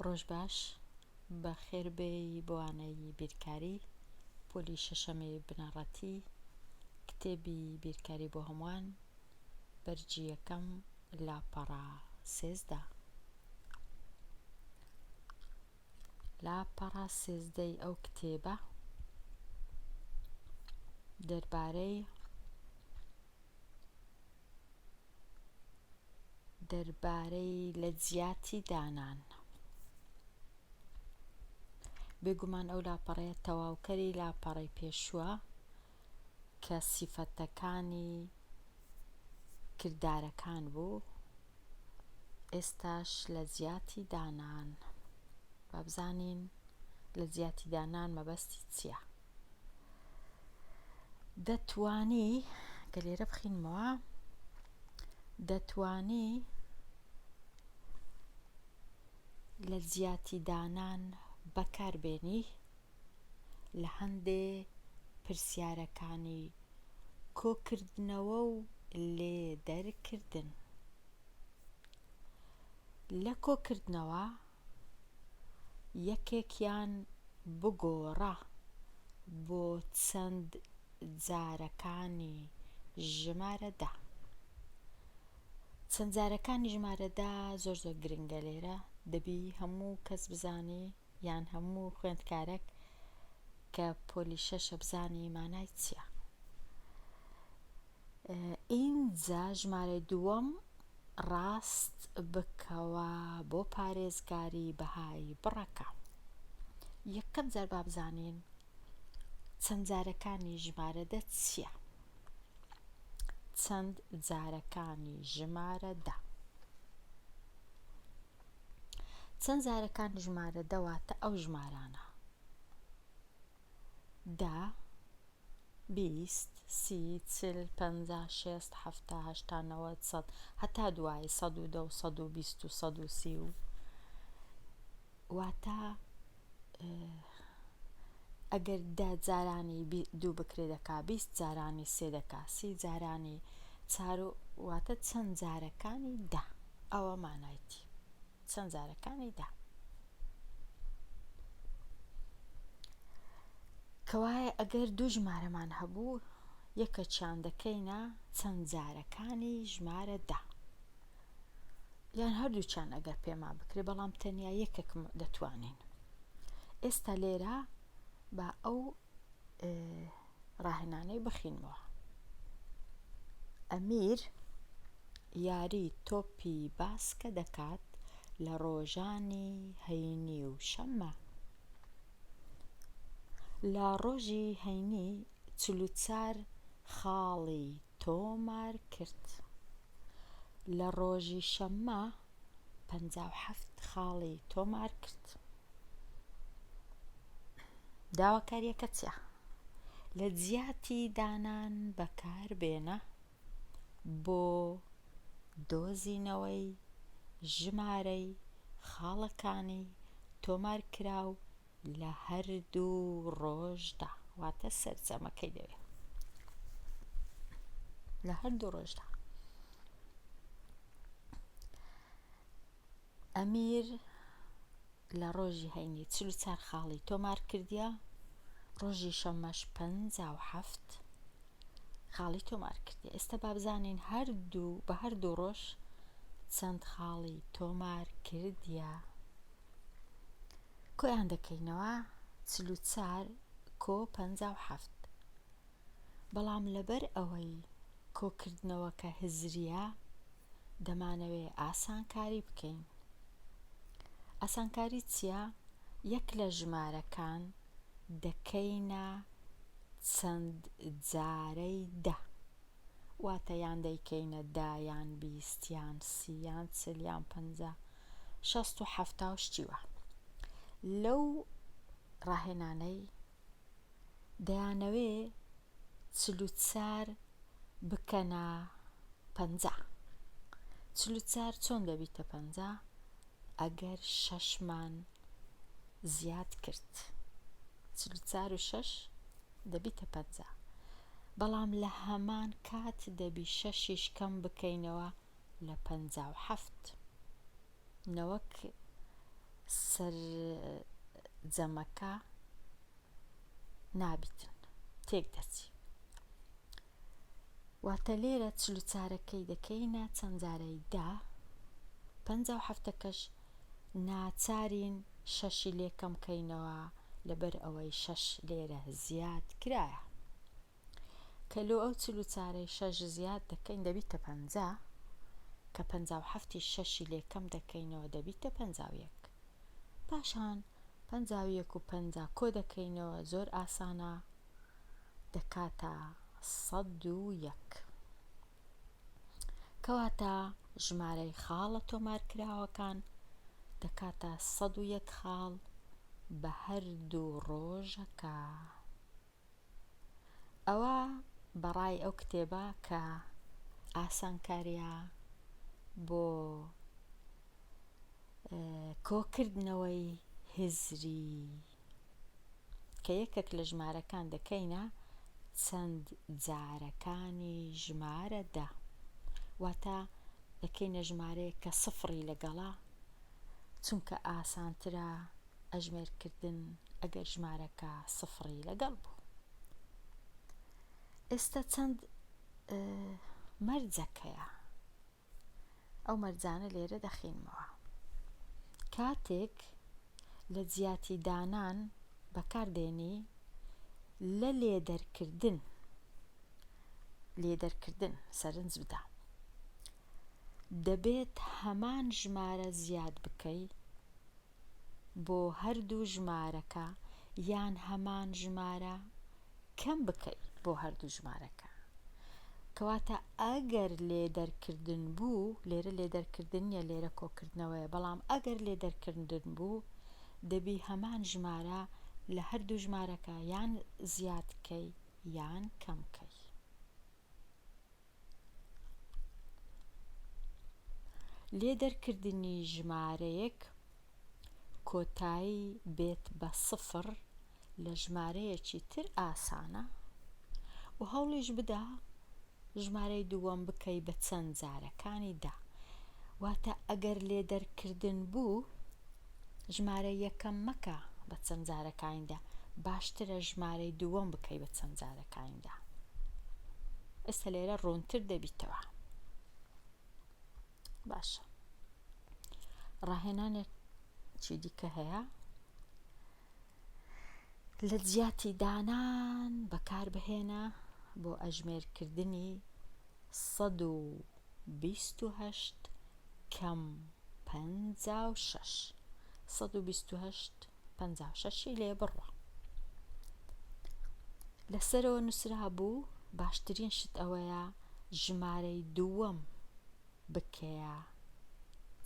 ڕۆژ باش بەخێر بێی بۆانەی بیرکاری پۆلی شەشەمی بنەڕەتی کتێبی بیرکاری بۆ هەمووان بەرگی یەکەم لاپەڕە سێزدە لاپەڕە سێزدەی ئەو کتێبە دەربارەی دەربارەی لەجیاتی دانان. بێگومان ئەو لاپەڕەیە تەواوکەری لاپەڕەی پێشووە کە سیفەتەکانی کردارەکان بوو، ئێستاش لەجیاتی دانان. با بزانین لەجیاتی دانان مەبەستی چییە؟ دەتوانی کە لێرە بخینمەوە دەتوانی لە جیاتی دانان بەکاربێنی لە هەندێ پرسیارەکانی کۆکردنەوە و لێ دەرکردن لە کۆکردنەوە یەکێکیان بگۆڕە بۆ چەند جارەکانی ژمارە دە. چەند جارەکانی ژمارە دە زۆر زۆر گرنگە لێرە دەبی هەموو کەس بزانی یان هەموو خوێندکارەک کە پۆلی شەشە بزانی مانای چییە. ئینجا ژمارەی دووەم ڕاست بکەوە بۆ پارێزگاری بەهای بڕەکە یەکەم جار بابزانین چەند جارەکانی ژمارە دە چییە چەند جارەکانی ژمارە دە چەند جارەکانی ژمارە دەواتە ئەو ژمارانە دە، بیست، سی، چل، پەنجا، شێست، حەفتا، هەشتا، نەوەد، سەد، هەتا دوایی، سەد و دە و سەد و بیست و سەد و سی و. واتە ئەگەر دە جارانی دوو بکرێ دەکا بیست جارانی سێ دەکا سی جارانی چار و واتە چەند جارەکانی دە ئەوە مانایتی. چەند جارەکانی دا. کەوایە ئەگەر دوو ژمارەمان هەبوو یەکەکیان دەکەینە چەند جارەکانی ژمارە دا. یان هەردووچان ئەگەر پێما بکرێ بەڵام تەنیا یەکێک دەتوانین ئێستا لێرە با ئەو ڕاهێنانەی بخینمەوە. ئەمیر یاری تۆپی باسکە دەکات لە ڕۆژانی هەینی و شەممە. لە ڕۆژی هەینی چل و چار خاڵی تۆمار کرد. لە ڕۆژی شەممە پەنجا و حەفت خاڵی تۆمار کرد. داواکاریەکە چیە؟ لە جیاتی دانان بەکار بێنە بۆ دۆزینەوەی ژمارەی خاڵەکانی تۆمارکراو لە هەردوو ڕۆژدا واتە سەرجەمەکەی دەوێ لە هەردوو ڕۆژدا ئەمیر لە ڕۆژی هەینی چل و چار خاڵی تۆمار کردیە ڕۆژی شەمەش پ و هەفت خاڵی تۆمار کردی ئێستا بابزانین هەردوو بە هەردوو ڕۆژ چەند خاڵی تۆمار کردیە کۆیان دەکەینەوە چل و چار کۆ پەنجا و حەفت بەڵام لەبەر ئەوەی کۆکردنەوەکە هزریە دەمانەوێ ئاسان کاری بکەین ئاسان کاری چیە یەک لە ژمارەکان دەکەینە چەند جارەی دە واتە یان دەیکەینە دە یان بیست یان سی یان چل یان پەنجا شەست و حەفتا و شتی وا لەو ڕاهێنانەی دەیانەوێ چل و چار بکەنە پەنجا چل و چار چۆن دەبیتە پەنجا ئەگەر شەش مان زیاد کرد چل و چار و شەش دەبیتە پەنجا بەڵام لە هەمان کات دەبی شەشیش کەم بکەینەوە لە پەنجا و حەفت نەوەک سەر جەمەکە نابیتن تێک دەچی واتە لێرە چل و چارەکەی دەکەینە چەند جارەی دە، پەنجا و حەفتەکەش ناچارین شەشی لێ کەم کەینەوە لەبەر ئەوەی شەش لێرە زیاد کرایە. کە لۆ ئەو چل و چارەی شەش زیاد دەکەین دەبیتە پەنجا، کە پەنجا و حەفتیش شەشی لێ کەم دەکەینەوە دەبیتە پەنجا و یەک. پاشان پەنجا و یەک و پەنجا کۆ دەکەینەوە زۆر ئاسانە دەکاتە سەد و یەک. کەواتە ژمارەی خاڵە تۆمارکراوەکان دەکاتە سەد و یەک خاڵ بە هەردوو ڕۆژەکە. ئەوە بەڕای ئەو کتێبە کە ئاسانکارییە بۆ کۆکردنەوەی هزری کە یەکەک لە ژمارەکان دەکەینە چەند جارەکانی ژمارە دە واتە دەکەینە ژمارەیەک کە سفڕی لەگەڵە چونکە ئاسانترە ئەژمێرکردن ئەگەر ژمارەکە سفڕی لەگەڵ بوو ئێستا چەند مەرجەکەیە ئەو مەرجانە لێرە دەخینمەوە. کاتێک لە جیاتی دانان بەکار دێنی لە لێدەرکردن لێدەرکردن سەرنج بدە. دەبێت هەمان ژمارە زیاد بکەی. بۆ هەردوو ژمارەکە یان هەمان ژمارە کەم بکەی بۆ هەردوو ژمارەکە کەواتە ئەگەر لێ دەرکردن بوو لێرە لێ دەرکردن نیە لێرە کۆکردنەوەیە بەڵام ئەگەر لێ دەرکردن بوو دەبی هەمان ژمارە لە هەردوو ژمارەکە یان زیادکەی یان کەمکەی. لێ دەرکردنی ژمارەیەک کۆتایی بێت بە سفر لە ژمارەیەکی تر ئاسانە و هەوڵیش بدە ژمارەی دووەم بکەی بە چەند جارەکانی دا واتە ئەگەر لێ دەرکردن بوو ژمارە یەکەم مەکە بە چەند جارەکانیدا باشترە ژمارەی دووەم بکەی بە چەند جارەکانیدا ئێستا لێرە ڕوونتر دەبیتەوە باشە ڕاهێنانێک چی دیکە هەیە لەجیاتی دانان بەکاربهێنە بۆ ئەژمێرکردنی سەد و بیست و هەشت کەم پەنجا و شەش سەد و بیست و هەشت پەنجا و شەشی لێ بڕە لەسەرەوە نووسرابوو باشترین شت ئەوەیە ژمارەی دووەم بکەیە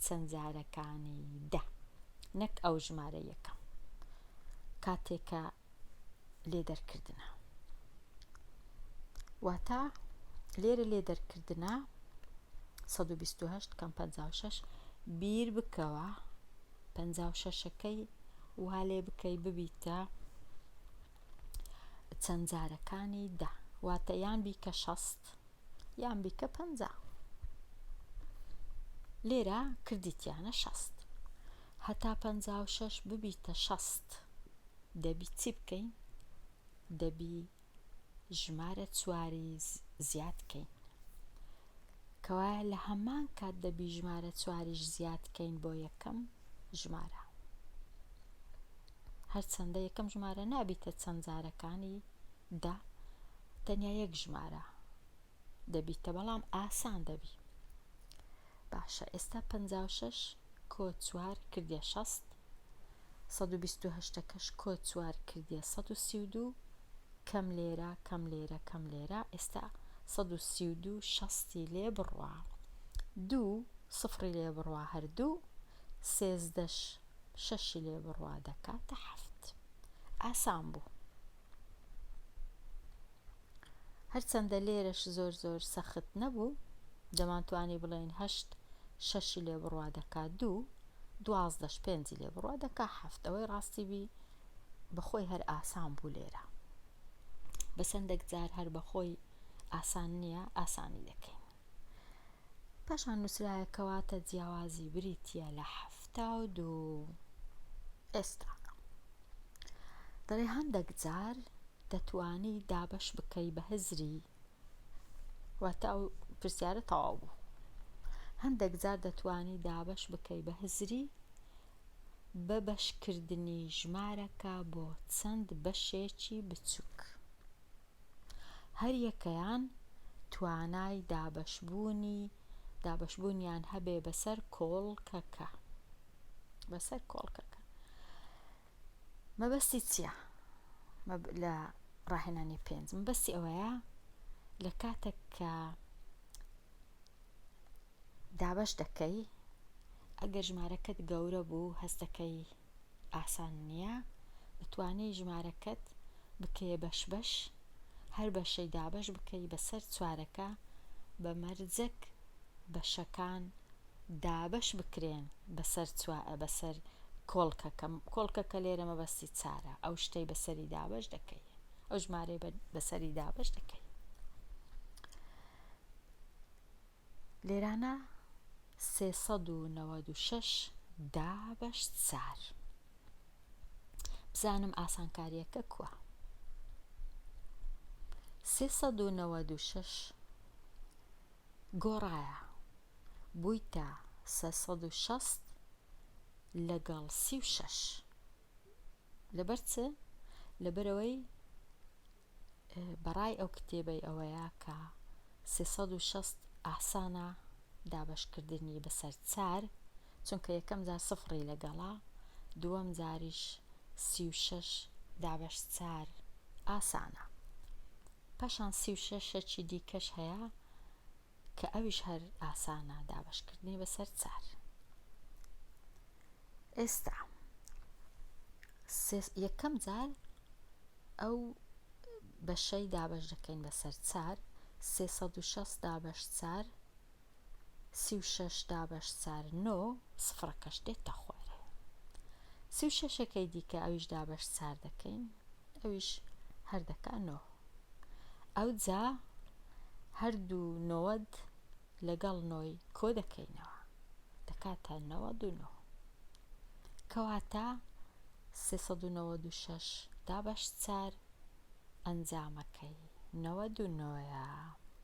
چەند جارەکانی دە نەک ئەو ژمارە یەکەم کاتێکە لێ دەرکردە واتە لێرە لێ دەرکردە 1920 کەم 56 بیر بکەوە 56ەکەی وا لێ بکەی ببیتە چەند جارەکانی دە واتە یان بیکە شەست یان بیکە پەنجا لێرە کردیتیانە شەست هەتا پەنجا و شەش ببیتە شەست دەبی چی بکەین دەبی ژمارە چواری زیاد بکەین کەوایە لە هەمان کات دەبی ژمارە چواریش زیاد بکەین بۆ یەکەم ژمارە هەرچەندە یەکەم ژمارە نابیتە چەند جارەکانی دە تەنیا یەک ژمارە دەبیتە بەڵام ئاسان دەبی باشە ئێستا 56 کۆ چوار کردە 6 1970ەکەش کۆ چوار کردە 1932 کەم لێرە کەم لێرە کەم لێرە ئێستا 1932 شەستی لێ بڕە دوو سفری لێ بڕە هەردوو سێزدەش شەشی لێ بڕوا دەکاتە حەفت. ئاسان بوو. هەرچەندە لێرەش زۆر زۆر سەخت نەبوو، دەمانتوانی بڵێین هەشت شەشی لێ بڕوا دەکا دوو، دوازدەش پێنجی لێ بڕوا دەکا حەفت. ئەوەی ڕاستی بی بەخۆی هەر ئاسان بوو لێرە. بەسەندێک جار هەر بەخۆی ئاسان نییە، ئاسانی دەکەین. پاشان نووسرایە کەواتە جیاوازی بریتیە لە حەفتا و دوو ئێستا دەڵێ هەندەک جار دەتوانی دابەش بکەی بە هزری واتە ئەو پرسیارە تەواو بوو هەندەک جار دەتوانی دابەش بکەی بە هزری بە بەشکردنی ژمارەکە بۆ چەند بەشێکی بچووک هەریەکەیان توانای دابەشبوونیان هەبێ بەسەر کۆڵکەکە. مەبەستی چیە لە ڕاهێنانی پێنج؟ مەبەستی ئەوەیە لە کاتێک کە دابەش دەکەی ئەگەر ژمارەکەت گەورە بوو هەستەکەی ئاسان نیە بتوانی ژمارەکەت بکەیە بەش بەش هەر بەشەی دابەش بکەی بەسەر چوارەکە بە مەرجەک بەشەکان دابەش بکرێن بەسەر بەسەر کۆڵکەکە کۆڵکەکە لێرە مەبەستی چارە ئەو شتەی بەسەری دابەش دەکەی ئەو ژمارەی بەسەری دابەش دەکەی لێرانە سێ سەد و نەوەد و شەش دابەش چار بزانم ئاسانکاریەکە کووە سێ سەد و نەوەد و شەش گۆڕایە بوویتە سێ سەد و شەست لەگەڵ سی و شەش لەبەر چ لەبەرەوەی بەڕای ئەو کتێبەی ئەوەیە کە سێ سەد و شەست ئاسانە دابەشکردنی بەسەر چار چونکە یەکەم جار سفڕی لەگەڵە دووەم جاریش سی و شەش دابەش چار ئاسانە پاشان سی و شەشەکی دیکەش هەیە کە ئەویش هەر ئاسانە دابەشکردنی بەسەر چار. ئێستا یەکەم جار ئەو بەشەی دابەش دەکەین بەسەر چار، سێ سەد و شەست دابەش چار، سی و شەش دابەش چار نۆ، سفڕەکەش دێتە خوارێ. سی و شەشەکەی دیکە ئەویش دابەش چار دەکەین، ئەویش هەر دەکا نۆ. ئەوجا هەردوو نۆد لەگەڵ نۆی کۆدەکەینەوە دەکاتە نەوەد و نۆ کەواتە سێ سەد و نەوەد و شەش دابەش چار ئەنجامەکەی نەوەد و نۆیە